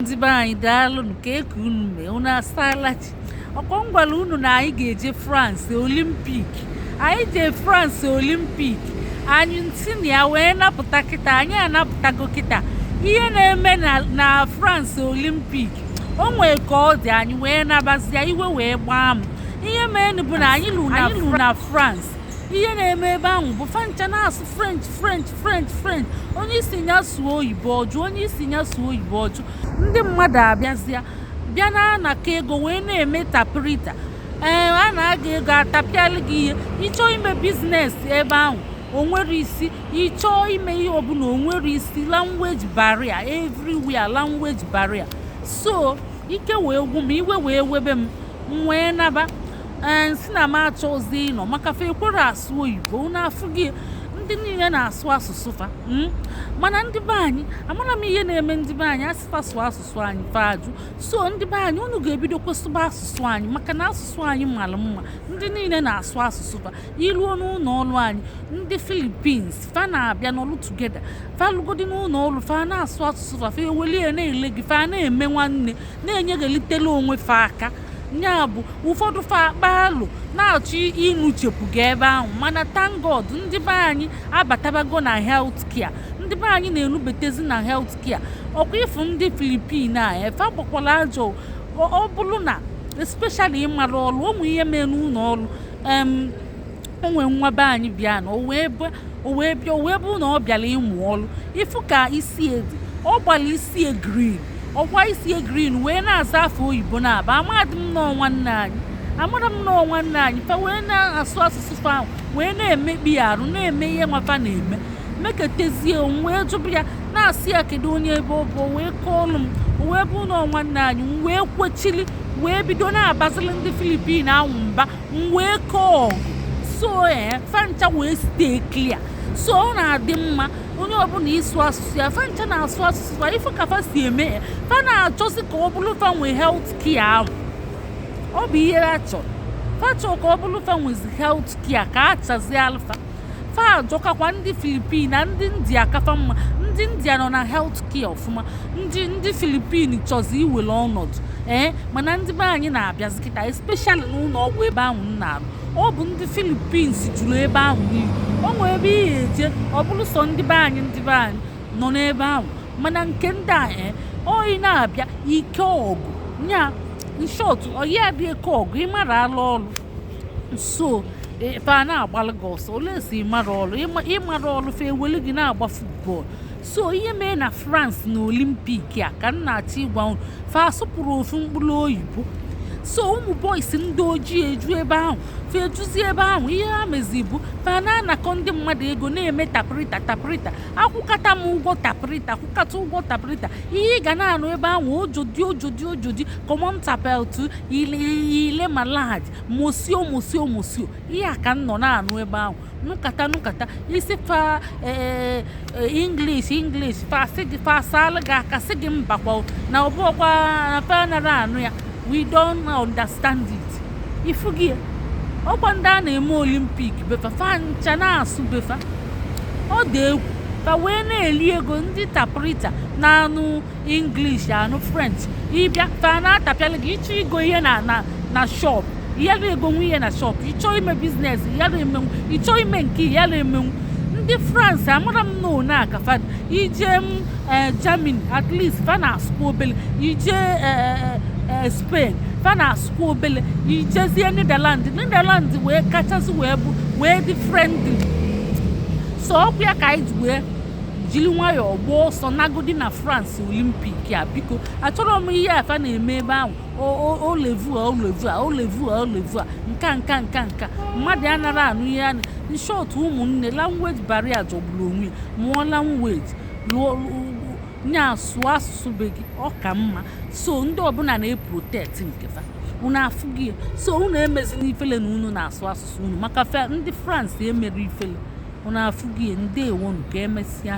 ndị be anyị daalụnụ kee ka unu mee unu asaala chi ọkwa m gwala unu na anyị ga-eje France Olympic anyị jee France Olympic anyị si na ya wee napụta kịta anyị anapụtago kịta ihe na-eme na France Olympic o nwee ka ọ dị anyị wee nabazia iwe wee gbaa m ihe meenụ bụ na anyị luo na France ihe na-eme ebe ahụ bụ fa ncha na-asụ french french french french onye ị sị ya sụọ oyibo ọ jụ onye ị sị ya sụọ oyibo ọ jụ ndị mmadụ abịazịa bịa na-anakọ ego wee na-eme tapirita ee eh, anaa gị ego atapịalụ gị ihe ị chọọ ime business ebe ahụ o nwerọ isi ị chọọ ime ihe ọbụla o nwerọ isi language barrier everywhere language barrier so ike wee gwụ m iwe wee webe m m wee naba ee sị na m achọzi ịnọ maka fa ekwerọ asụ oyibo unu afụgo ndị niile na-asụ asụsụ fa hmm? mana ndị be anyị amara m ihe na-eme ndị be anyị a sị fa sụọ asụsụ anyị fa ajụ so ndị be anyị unu ga-ebido kwuzibe asụsụ anyị maka na asụsụ anyị mara mma ndị niile na-asụ asụsụ fa iruo n'ụlọ ọrụ anyị ndị Philippines fa na-abịa n'ọrụ together fa lugodi n'ụlọ ọrụ fa na-asụ asụsụ fa fa ewelie na-ele gị fa na-eme nwanne na-enyeghalitela onwe fa aka ya bụ ụfọdụ fa akpaa alo na-achọ ịnụchepụ gị ebe ahụ mana thank God ndị be anyị abatabago na health care ndị be anyị na-enubetezi na health care ọkwa ị fụ ndị Philippine a efe agbakwala ajọ ọ bụrụ na especially ị mara ọrụ o nwee ihe mee n'ụlọ ọrụ o nwee nwa be anyị bịa na o wee bịa o wee bụrụ na ọ bịara ịmụ ọrụ ị fụ ka isi ya dị ọ gbara isi green ọkwa isi green wee na-aza afa oyibo na-aba amadị m na ọ nwanne anyị amadị m na ọ nwanne anyị fa wee na-asụ asụsụ fa ahụ wee na-emekpa ya arụ na-eme ihe nwa fa na-eme meketezie m wee jụba ya na-asị ya kedu onye ebe ọ bụ o wee kọọlụ m o wee bụ na ọ nwanne anyị m wee kwechili wee bido na-abazili ndị Philippine ahụ mba m wee kọọ so ee eh, fa ncha wee stay clear so ọ na-adị mma onye ọbụla ịsụ asụsụ ya fa ncha na-asụ asụsụ fa ị fụ ka fa si eme ya eh, fa na-achọzi ka ọ bụrụ fa nwee health care ahụ ọ bụ ihe ha chọrọ fa chọrọ ka ọ bụrụ fa nwezi health care ka a chazịalụ fa fa ajọkakwa ndị Philippine a ndị India ka fa mma ndị India nọ na health care ọfụma ndị ndị Philippine chọzi iwere ọnọdụ ee mana ndị be anyị na-abịazi kịta especially n'ụlọ ọgwụ ebe ahụ m na-arụ ọ bụ ndị Philippines juru ebe ahụ niile o nwee ebe ị ga-eje ọ bụrụ sọ ndị be anyị ndị be anyị nọ n'ebe ahụ mana nke ndị a ee oyi na-abịa ike ọgụ nya in short oyi adị ike ọgụ ịmara ala ọrụ so ebe a na-agbalụ gị ọsọ unless ịmara ọrụ ịmara ọrụ fa ewelu gị na-agba football so ihe mee na france na olympic a ka m na-achọ ịgwa unu fa asụpụrụ ofu mkpụrụ oyibo so ụmụ boys ndị ojii eju ebe ahụ fa ejuzi ebe ahụ ihe ha mezi bụ fa na-anakọ ndị mmadụ ego na-eme taprita taprita akwụkata m ụgwọ taprita akwụkata ụgwọ taprita ihe ị ga na-anụ ebe ahụ aujourd'hui aujourd'hui aujourd'hui comment t'appelles-tu il est il est malade monsieur monsieur monsieur ihe a ka m nọ na-anụ ebe ahụ nụkata nụkata ị sị fa ee eh, eh, english english fa sị gị fa asala gị aka sị gị mbakwa na ọbụọkwa na fa anara anụ ya we don't understand it ị fụgo ya ọkwa ndị a na-eme olympic be fa fa ncha na-asụ be fa ọ dị egwu fa wee na-eli ego ndị taprita na-anụ English anụ French ịbịa fa na-atapịalụ gị ịchọ igo ihe na na na shop ịyara egonwu ihe na shop ịchọ ime business ịyara emenwu ịchọ ime nke ịyara emenwu ndị France amara m na one aka fa ije m eh, Germany at least fa na-asụkwa obele ije eh, eh, eh, Spain fa na-asụkwa obele ijezie Netherland Netherland wee kachasị wee bụ wee dị friendly so ọkwa ya ka anyị ji wee jiri nwayọọ gbaa ọsọ nagodi na France Olympic a biko achọrọ m ihe a fa na-eme ebe ahụ au revoir au revoir au revoir au revoir nka nka nka nka mmadụ anara anụ ihe a in short ụmụnne language barrier jọgburu onwe mụọ language lụọ nya sụọ asụsụ be gị ọ ka mma so ndị ọbụla na-eprotect nke fa unu afụgo ya so unu emezina ifele na unu na-asụ asụsụ unu maka ndị France emerọ ifele unu afụgo ya ndewonụ ka emesịa